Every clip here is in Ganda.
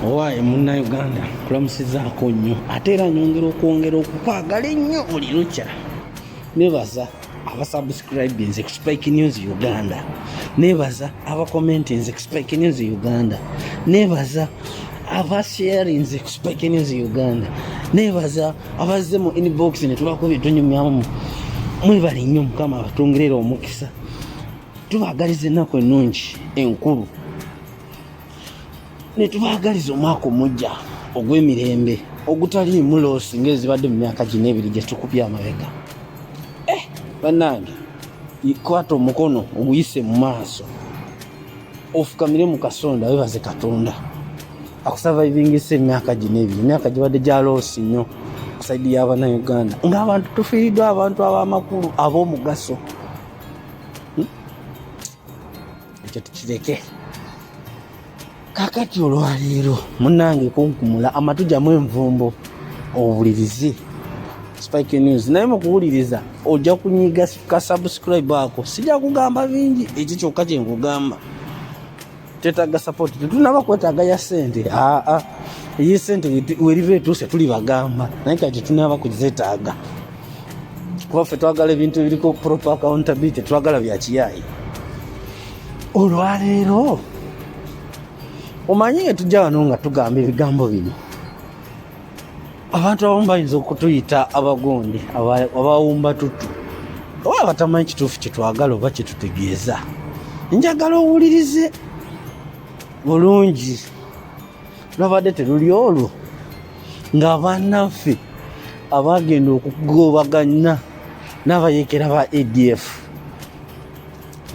owaaye munnayuganda kulamusizaako nnyo ate era nyongera okwongera okukwagala ennyo buli lukya nebaza abasubscribinze kuspike news uganda nebaza abacomentinze kuspike news uganda nebaza abasharinze kuspike news uganda nebaza abazze mu inbox netubako byetunyumyamu mwebale nnyo mukama abatungerera omukisa tubaagaliza ennaku ennungi enkulu ne tubaagaliza omwaka omujja ogw'emirembe ogutaliimu loosi ng'ezibadde mu myaka gino ebiri gye tukubye amabega eh, bannange kwata omukono oguyise mu maaso ofukamire mu kasonda webaze katonda akusavaivingisa emyaka gino ebiri emyaka gibadde gya loosi nnyo kusaidi y'abanauganda ng'abantu tufiiriddwa abantu ab'amakulu ab'omugaso hmm? ekyo tukireke kakati olwaleero munange kunkumula amatu jamu envumbo owulirize spike news naye mukuwuliriza ojja kunyiga ka subscribe ako sijja kugamba bingi ekyo kyokka kyenkugamba Tetagga support. Tetunaba kwetaaga ya sente. Ah ah. Iyi sente weriva etuuse tuli bagamba. Naye kati tunaba kuzetaaga. Kuba ffe twagala ebintu ebiriko proper accountability twagala bya kiyayi. Olwaleero omanyi nga tujja wano nga tugamba ebigambo bino abantu abamu bayinza okutuyita abagundi abawumba tuttu oba abatamanyi kituufu kyetwagala oba kyetutegeeza njagala owulirize bulungi lwabadde teruli olwo nga banaffe abagenda okugobaganya n'abayekera ba adf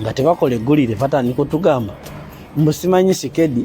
nga tebakola eggulire batandika otugamba mbusimanyi sikedi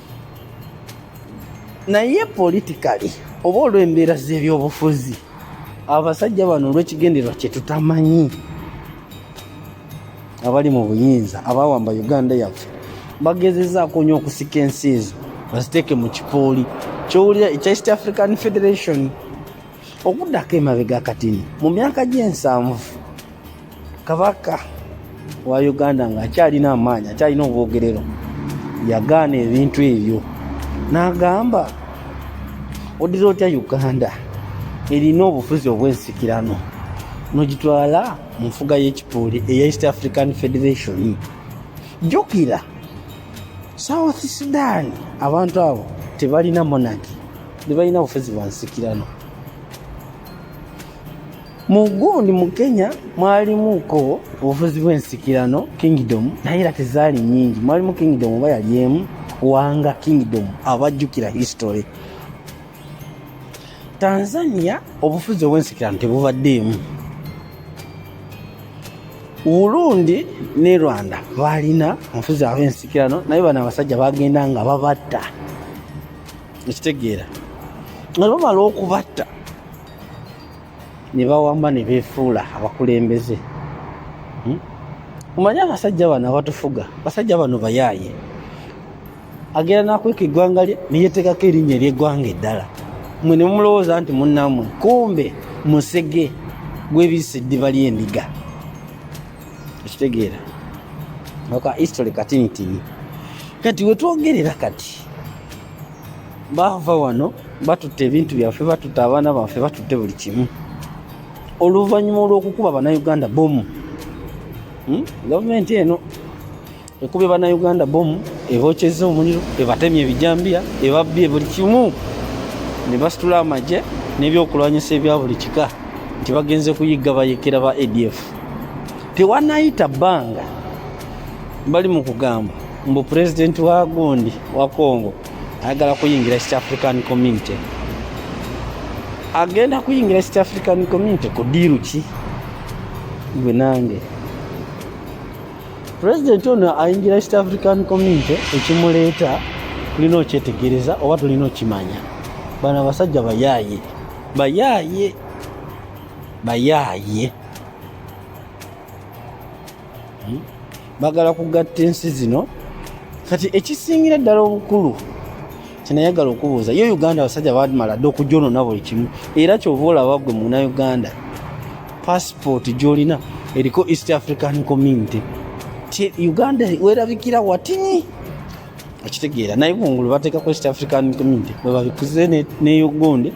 naye politikali oba olw'embeera z'ebyobufuzi abasajja bano olw'ekigendererwa kye tutamanyi abali mu buyinza abawamba uganda yaffe bagezezaako nyo okusika ensi ezo baziteeke mu kipooli kyowulira ekya east african federation okuddako emabega katini mu myaka gy'ensanvu kabaka wa uganda ng'akyalina amaanyi akyalina obwogerero yagaana ebintu ebyo n'agamba odira otya uganda erina obufuzi obw'ensikirano nogitwala mu nfuga y'ekipuuli eya east african federation jjukira south sudan abantu abo tebalina monaki tebalina bufezi bwansikirano mugundi mu kenya mwalimuko obufuzi bwensikirano kingdom naye era tezaali nyingi mwalimu kingdom oba yali emu wanga kingdom abajjukira history tanzania obufuzi obwensikirano tebubaddeemu burundi ne rwanda balina omufuzi abensikirano naye bano abasajja bagenda nga babatta ekitegeera nga bamala okubatta ne bawamba ne beefuula abakulembeze hmm? omanye abasajja bano abatufuga basajja bano bayaaye agenda nakweka eggwanga lye neyetekako erinnya eryeggwanga eddala mwe nemumulowooza nti munnamwe kumbe musege gwebisa eddiba lyendiga ekitegeera noka history katinitini kati wetwogerera kati bava wano batutte ebintu byaffe batutte abaana baffe batutte buli kimu oluvannyuma olwokukuba banauganda bomu hmm? gavumenti eno ekubye bannayuganda bomu ebookyezza omuliro ebatemye ebijambiya ebabbye buli kimu ne basitula amagye n'ebyokulwanyisa ebya buli kika nti bagenze kuyigga bayekera ba adf tewanayita bbanga bali mu kugamba mbu pulezidenti wa gundi wa congo ayagala kuyingira east african community agenda kuyingira east african community ku diiru ki gwe nange pulezidenti ono ayingira east african community ekimuleeta tulina okyetegereza oba tulina okimanya bano abasajja bayaaye bayaaye bayaaye hmm? bagala kugatta ensi zino kati ekisingira ddala obukulu kyenayagala okubuuza yo uganda abasajja bamala dda okujonona buli kimu era kyova olaba gwe muna uganda pasipooti gyolina eriko east african community uganda werabikira watini okitegeera naye kungulu bateekako east african community webabikuze neyogonde ne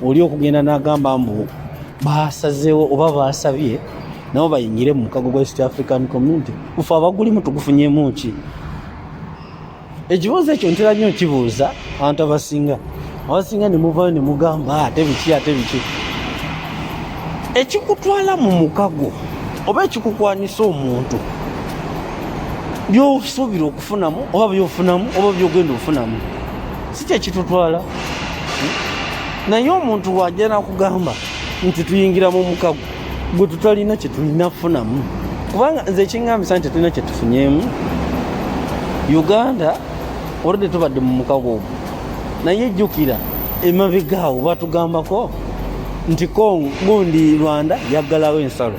oli okugenda n'agamba mbu baasazeewo oba baasabye nabo bayingire mu mukago gwa east african community ufe abagulimu tugufunyemu ki ekibuuzo ekyo ntera nnyo nkibuuza abantu abasinga abasinga ne muvayo ne mugamba ah, ate biki ate biki ekikutwala mu mukago oba ekikukwanyisa omuntu byosuubira okufunamu oba byofunamu oba byogenda ofunamu si kyekitutwala naye omuntu wajja nakugamba nti tuyingira mu mukago gwe tutalina kyetulina kufunamu kubanga nze ekingambisa nti tetulina kyetufunyemu uganda oludde tubadde mu mukago ogwo naye jjukira emabegaawo batugambako nti congo gundi rwanda yaggalawo ensalo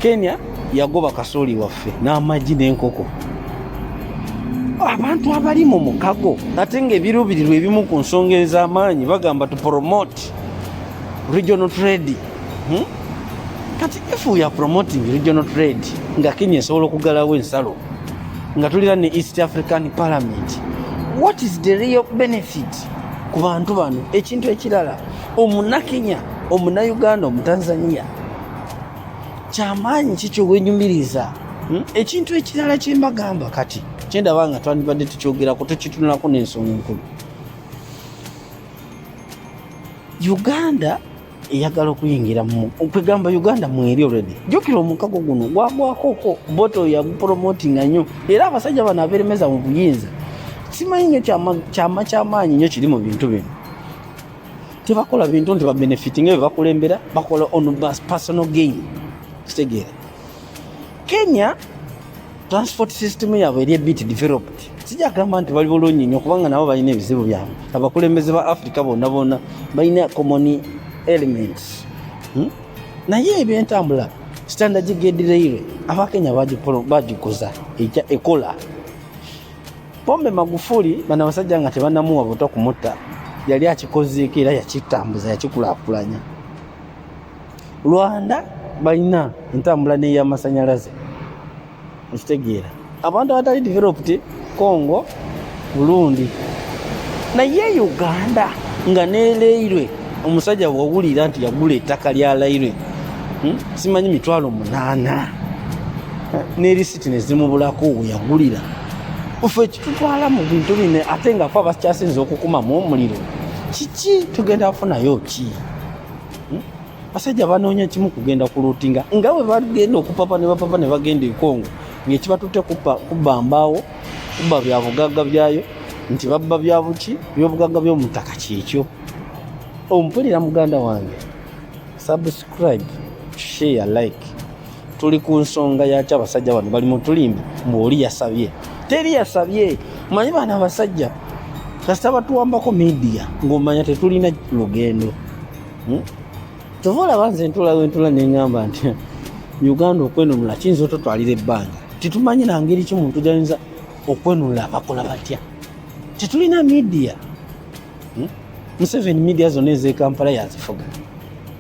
kenya yagoba kasooli waffe n'amagi n'enkoko abantu abali mu mukago ate nga ebiruubirirwa ebimu ku nsonga ez'amaanyi bagamba to promote regional trade hmm? kati if we are promoting regional trade nga kenya esobola okugalawo ensalo nga tulira ne east african parliament what is the real benefit ku bantu bano ekintu ekirala omunakenya omunauganda omutanzania kyamaanyi ki kyowenyumiriza hmm? ekintu ekirala kyembagamba kati kyendaba nga twandibadde tukyogerako tukitunulako n'ensonga enkulu uganda eyagala okuyingira kwegamba uganda mweri olredi jukira omukago guno gwagwakoko boto yagupromotinga nnyo era abasajja bano aberemeza mu buyinza simanyi nyo kyama kyamaanyi nyo kiri mu bintu bino tebakola bintu nti babenefiti nga bebakulembera bakola on bus personal gain kitegeera kenya transport system yabwe eri ebit developed sijagamba nti bali bulungi nyo kubanga nabo balina ebizibu byabwe abakulembeze ba africa bona bona balina common elements hmm? naye ebyentambula standard gedireire abakenya bagikuza ekola Pombe Magufuli bana basajja nga tebanamuwa buto kumutta yali akikozeeko era yakitambuza yakikulaakulanya. Rwanda balina entambula n'ey'amasannyalaze okitegeera abantu abatali developed Congo Burundi naye Uganda nga neleirwe omusajja wawulira nti yagula ettaka lya lairwe hmm? simanyi mitwalo munaana sente nezimubulako weyagulira ofe ekitutwala mu bintu bine ate nga fe abakyasinza okukumamu omuliro kiki tugenda kufunayo ki hmm? basajja banoonya kimu kugenda ku lutinga nga bwe bagenda okupapa ne bapapa ne bagenda ekongo ngaekibatutte kubba mbaawo kubba bya bugagga byayo nti babba bya buki byobugagga by'omutaka kyekyo ompulira muganda wange subscribe share like tuli ku nsonga yaki abasajja bano bali mutulimbi mbu oli yasabye teri yasabye manyi bano abasajja kasita batuwambako midiya ngaomanya tetulina lugendo hmm? kyova olaba nze ntula wentula neŋamba nti uganda okwenunula kiyinza ototwalira ebbanga tetumanyi nangeri ki muntu gyayinza okwenunula abakola batya tetulina midiya hmm? museveni midiya zonna ezekampala yazifuga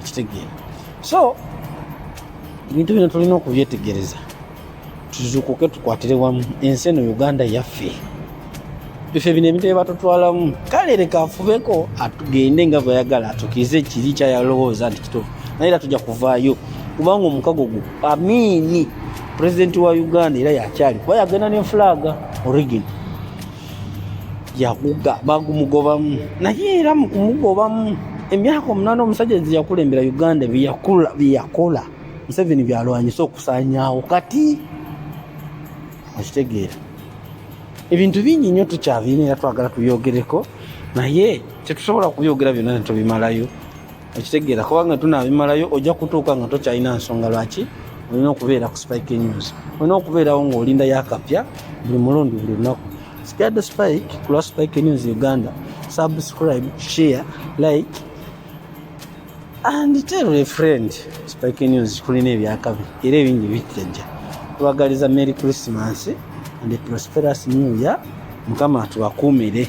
ekitegeera so ebintu bino tulina okubyetegereza tuzukuke tukwatire wamu ensi eno uganda yaffe bife bino ebintu byebatutwalamu kale leka afubeko atugende nga bweyagala atukirize ekiri kyayalowooza nti kitufu naye era tujja kuvaayo kubanga omukago gwo amiini pulezidenti wa uganda era yakyali kuba yagenda ne fulaga origin yakuga bagumugobamu naye era mu kumugobamu emyaka omunaana omusajja nze yakulembera uganda byeyakola museveni byalwanyisa okusanyawo kati okitegeera ebintu bingi nnyo tukyabirina era twagala tubyogereko naye tetusobola kubyogera byonna netubimalayo okitegeera kubanga tunabimalayo ojja kutuuka nga tokyalina nsonga lwaki olina okubeera ku spike news olina okubeerawo ngaolinda yakapya buli mulundi buli lunaku sigade spike kulwa spike news uganda subscribe share like and tell a friend spike news kulina ebyakabi era ebingi bijjajja tubagaliza merry christmas and a prosperous new year mukama tubakuumire